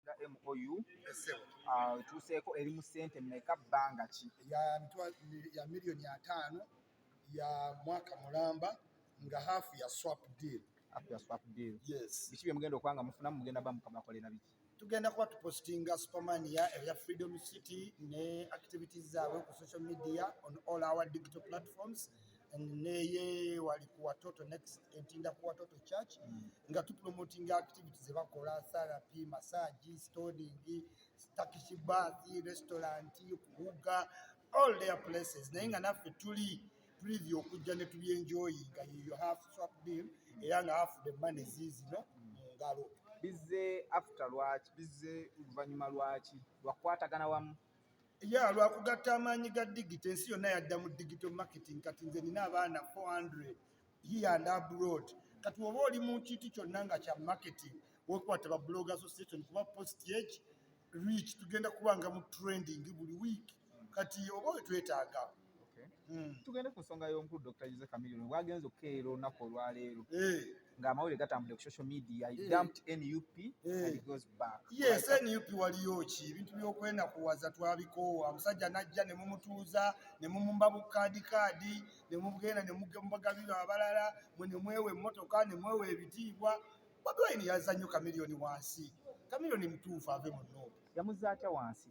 nga MOU ah, etuuseeko eri mu ssente mmeka bbanga ki? ya miliyoni ataano ya mwaka mulamba nga haafu ya swap deal. Haafu ya swap deal. Yes. Biki bye mugenda okuba nga mufunamu mugenda ba mukabakolera biki? Tugenda kuba tupositinga Supermania ebya Freedom City ne activities zaabwe ku social media on all our digital platforms. and neye wali ku watoto next entinda ku watoto church mm. nga tu promoting activities ze bakola therapy massage stoning takishi bath restaurant kuuga all their places naye nga naffe tuli preview okujja ne tubyenjoyi nga you have swap deal era nga half the money zizino mm. ngalo bizze after lwaki bizze oluvannyuma lwaki lwakukwatagana wamu ya lwa kugatta amaanyi ga digito ensi yonna yadda mu digito marketing kati nze nina abaana 400 here and abroad kati oba oli mu kintu kyonna nga kya marketing wekwata ba blog association kuba post eki reach tugenda kubanga mu trending buli week kati oba wetwetaaga Hmm. tugende ku nsonga y'omukulu dr jose camilion bwagenze okukeera olunaku olwaleero eh. ng'amawulire gatambudde ku social media eh. dumped nup eh. and goes back yes nup waliyo ki ebintu by'okwenakuwaza twabikoowa omusajja n'ajja ne mumutuuza ne mumumba bukaadi kaadi ne mugenda ne mubagabira abalala mwe ne mwewa emmotoka ne mwewa ebitiibwa bobi wine yazza nnyo camilion wansi camilion mutuufu ave mu noobu yamuzza atya wansi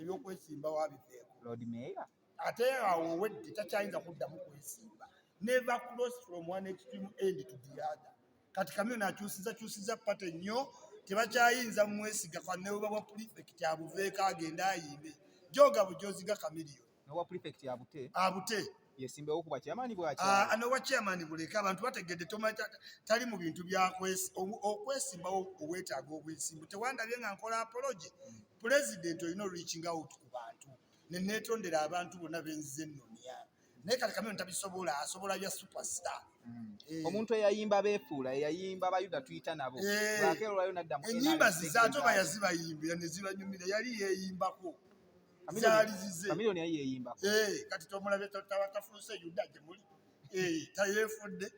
ebyokwesimbawo abiveeko Lord Mayor ate awo owedde takyayinza kuddamu kwesimba neva cross from one extreme end to the other kati kamyona akyusiza kyusiza pate nnyo tebakyayinza mwesiga kwanebuba bwa pulifekiti abuveeko agende ayimbe joga bujoziga kamiriyo nowa pulifekiti abute abute yesimbewo ku bwakyamani bwaki ah, ano bwakyamani buleka abantu bategedde tomanya tali mu bintu byakwesimbawo obwetaaga obwesimbu tewandabye nga nkola apology pulezidenti olina reaching out ku bantu nenetondera abantu bonna benzize nonya naye kati kameno tabisobola asobola bya superstar hmm. eh. omuntu eyayimba befuula eyayimba bayuda tuyita nabo eh. akeerolayo naddamu enyimba zizaate oba yazibayimbira nezibanyumira yali yeyimbako zaali zize eh, kati tomulabe tawatafuuse yuda gye muli eh, tayeefudde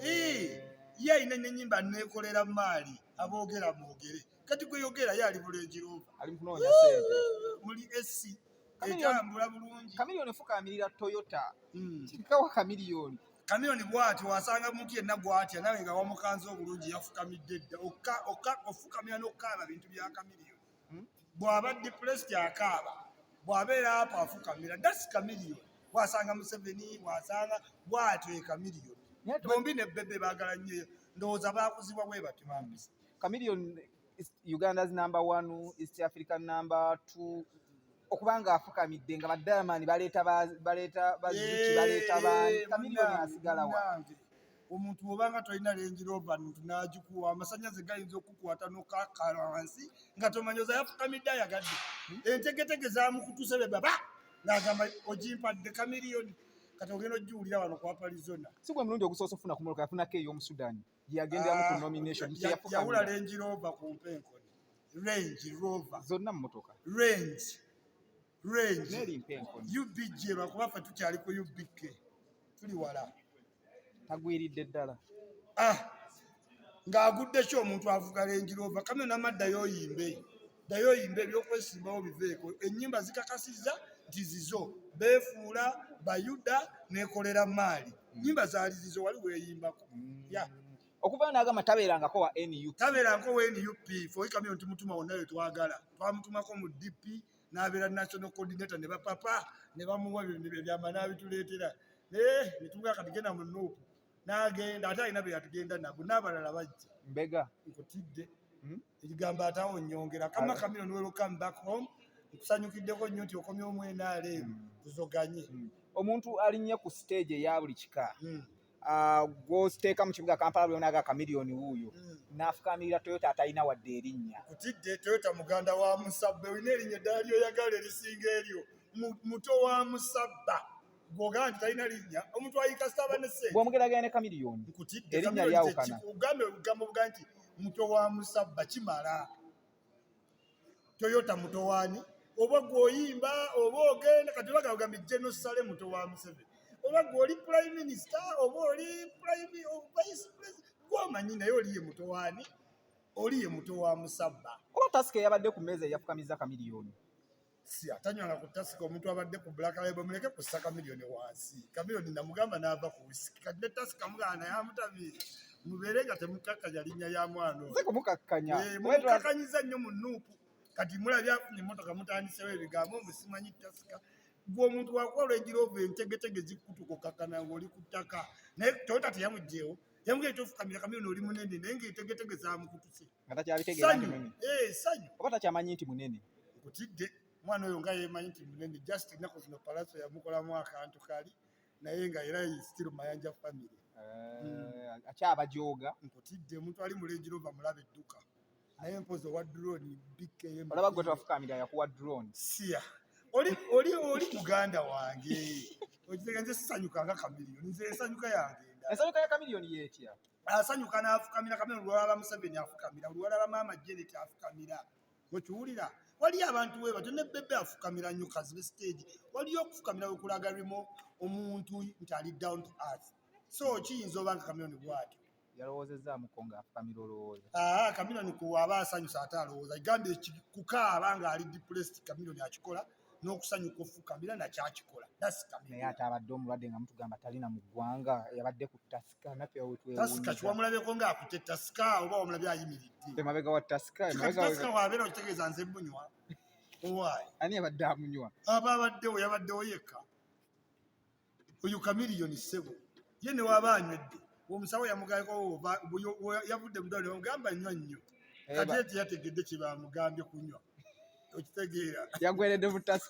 eh, ye alina nenyimba neekolera maali aboogera mwogere kati gwe yogera ye ali bulenjirova muli esi etambula bulungi kamiliyoni fukaamirira toyota hmm. kikawa kamiliyoni kamiliyoni bwati wasanga muntu yenna gwatya nawe nga wamukanze obulungi yafukamidde dda ofukamira n'okukaaba bintu bya kamiliyoni hmm? bw'aba depressed akaaba bw'abeera apo afukamira dasi kamiliyo wasanga museveni wasanga bwatyo ekamiliyo bombi ne bebe baagala nnyo ndowooza baakuzibwa bwe bati bambisa kamiliyo uganda's number one east african number two okuba nga afukamidde nga badayamani baleeta baleeta baziki baleeta baani kamiliyo asigala wa omuntu bwobanga tolina Range Rover n'agikuwa amasannyalaze gayinza okukukwata n'okakala wansi nga tomanyi oza yafukamidde ayagadde entegetege zamukutusa bye baba ng'agamba ogimpadde kamiriyoni kati ogenda ogiwulira wano ku aparizona si gwe mulundi ogusoose okufuna ku moloka yafunako ey'omusudani gyeyagenderamu ku ah, nomination yawula Range Rover ku mpenkoni Range Rover zonna mmotoka Range Range UBG lwakuba ffe tukyali ku UBK tuli wala tagwiridde ddala ah, ng'agudde ki omuntu avuga Range Rover kame nama ddayo oyimbe ddayo oyimbe ebyokwesimbawo biveeko ennyimba zikakasizza nti zizo beefuula bayuda nekolera maali nnyimba zaali zizo wali weeyimbako mm. ya okuvayo nagamba tabeerangako wa nup tabeerangako wa nup foikamiyo nti mutuma wonna we twagala twamutumako mu dp n'abeera national coordinator ne bapapa ne bamuwa ebyama n'abituleetera naye ne tumugamba kati genda mu nuupu n'agenda ate alina be yatugenda nabo n'abalala bajja mbega nkutidde hmm? ekigambo atawo nyongera kama kamiro ni welcome back home nkusanyukiddeko nnyo nti okomye omwenaale hmm. tuzoganye hmm. omuntu alinnye ku siteegi eya buli kika Ah, gw'oteeka mu kibuga kampala buli onaga kamiliyoni wuuyo hmm. n'afukamirira toyota atalina wadde erinnya kutidde toyota muganda wa musabba olina erinnya eddala lyoyagala erisinga eryo muto wa musabba gwogaa nti talina linnya omuntu ayikasita aba nesegwomugeraganya ne kamiliyoni nkutidde erinnya lyawukana ugambe obugambo buga nti muto wa musabba kimala toyota mutowani oba gwoyimba oba ogenda kati baga ogambi jeno sale muto wa museveni oba gwoli prime minister oba oli prime vice president gwomanyi naye oliye mutowani oliye muto wa musabba oba tasika yabadde ku meeza eyafukamiza kamiliyoni Sia tanywanga ku tasika omuntu abadde ku Black Label muleke ku saka milioni wansi. Kamilioni namugamba n'ava ku whisky. Kati ne tasika mugana naye amutabi. Mubeere nga temukakkanya linnya ya mwana oyo. Sikumukakkanya. Eh, mumukakkanyiza nnyo mu nuupu. Kati mulabye afunye emmotoka mutandisewo ebigambo mbu simanyi tasika. Gwe omuntu wakuwa olw'egiroovu entegetege zikutuka okakkana ng'oli ku ttaka. Naye Toyota teyamugyewo. yamugee tofukamira kamyona oli munene naye ngaetegetege zamukutuse eh, sanyu oba takyamanyi nti munene nkutidde omwana oyo nga yemanyi nti munene just ennaku zino palaso yamukolamu akantu kali naye nga era still mayanja family eh, hmm. akyabajooga nkutidde omuntu ali mulenjirova mulaba edduka naye mpozi owa drone bikkeyo olaba gwe tofukamira yakuwa drone siya oli oli oli muganda wange okitega nze sisanyuka nga kamiliyoni nze ensanyuka yange ensanyuka ya kamiliyoni yetya asanyuka n'afukamira kamiliyoni olwalaba museveni afukamira olwalaba maama jenet afukamira okiwulira waliyo abantu we batyo ne bebe afukamira nnyo kazibe stage waliyo okufukamira wekulagalimu omuntu nti ali down to earth so kiyinza oba nga kamiliyoni bwatyo yalowoozezzaamuko ng'afukamira olowooza. Aa Chameleone ku aba asanyuse ate alowooza igambye kukaaba ng'ali depressed Chameleone akikola n'okusanyuka ofukamira nakyo akikola naye ate abadde omulwadde nga mutugamba talina mu ggwanga yabadde ku tasika naffe tasika kiwamulabeko ng'akute tasika oba wamulabye ayimiridde emabega wa tasika tasika wabeera okitegeeza nze munywa owaayi ani abadde amunywa aba abaddewo yabaddewo yekka oyo kamiliyoni ssebo ye ne waba anywedde omusawo yamugamba yavudde mudwaliro bamugamba nywa nnyo eh, kati eti yategedde kye bamugambye kunywa okitegeera yagweredde butasi